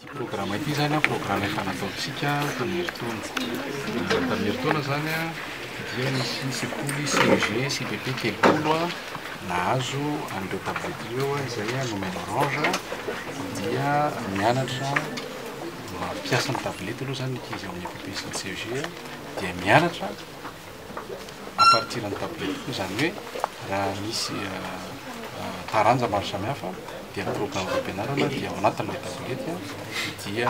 Ity programa ity izany an, programa efa nataontsika tamin'ny herintaona. Tamin'ny herintaona izany an, dia nisy ny sekoly CEG, CPP Kelimpolo an, nahazo an'ireo tablette ireo izay nomeny orange, dia mianatra mampiasa ny tablette aloha izany ny ankizy ao amin'ny EPP sy ny CEG, dia mianatra à partir ny tableau koa izany hoe raha misy taranja maro samihafa dia ny programme fampianarana dia ao anatin'ilay tableau dia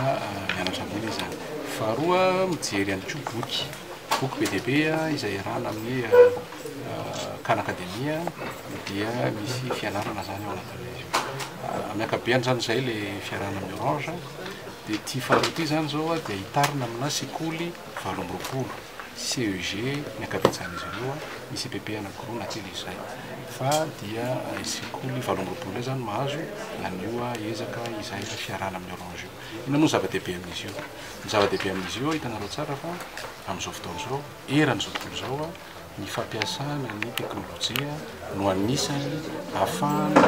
mianatra ambony izany faharoa mijery ihany koa boky boky be dia be izay iarahana amin'ny kan akademia dia misy fianarana izany ao anatin'ilay izy amin'ny akabeany izany izay ilay fiarahana amin'ny orange dia ity faharoa ity izany izao dia hitarina amina sekoly valo amby roapolo CEG ny ankabetsahan'izy ireo, ny CPP anankiroa na kely izay. Fa dia ny sekoly valo amby roapolo indray izany mahazo an'io ezaka izay fiarahana amin'ny Orange io. Inona moa no zava-dehibe amin'izy io? Ny zava-dehibe amin'izy io, hitanareo tsara fa amin'izao fotoana izao, eran'izao tontolo izao, ny fampiasana ny teknolojia no anisany hahafahana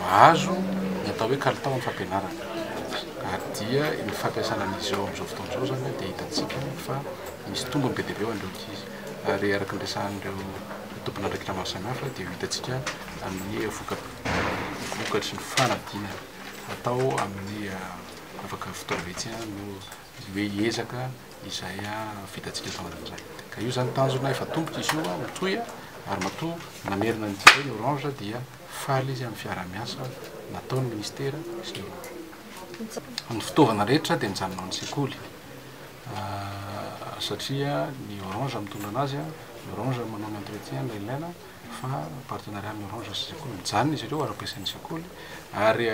mahazo ny atao hoe kalitao amin'ny fampianarana. Ary dia ny fampiasana an'izy ireo amin'izao fotoana izao izany dia hitantsika fa misy tombony be dia be ho an'ireo ankizy. Ary araka ny resahan'ireo tomponandraikitra maro samihafa dia hitantsika amin'ny voka- vokatry ny fanadinana atao amin'ny afaka fotoana vitsy no hoe hiezaka izay vitantsika tao anatin'izay. Ka io izany tanjona efa tomboka izy io ho toy ary matoa namerina ny jereo ny Orange dia faly izy amin'ny fiaraha-miasa nataon'ny Ministera sy ny Orange. Ny fitaovana rehetra dia mijanona ao amin'ny sekoly satria ny Orange mitondra an'azy, ny Orange manao ny entretien ilay ilaina fa partenariat amin'ny orange sy sekoly mijanona izy ireo ary ampiasain'ny sekoly ary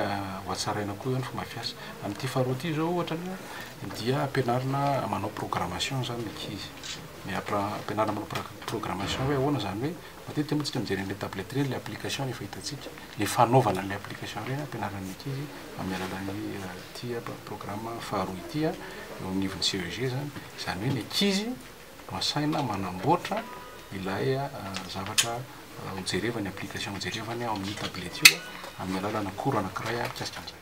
hohatsaraina koa eo ny fomba fiasa amin'ity faharoa ity izao ohatra ny hoe dia ampianarina manao programmation zany ny ankizy ny apra- ampianarina manao pra- programmation hoe ahoana zany hoe matetika moa tsika mijery an'ilay tablette ireny le application ny efa hitantsika le fanaovana an'ilay application ireny ampianarina ny ankizy amin'ny alalan'ny ity programme faharoa ity eo anivon'ny CEG zany izany hoe ny ankizy asaina manamboatra ilay zavatra hojerevany, application hojerevany ao amin'io tablette io amin'ny alalana cours anankiray mikasika an'izay.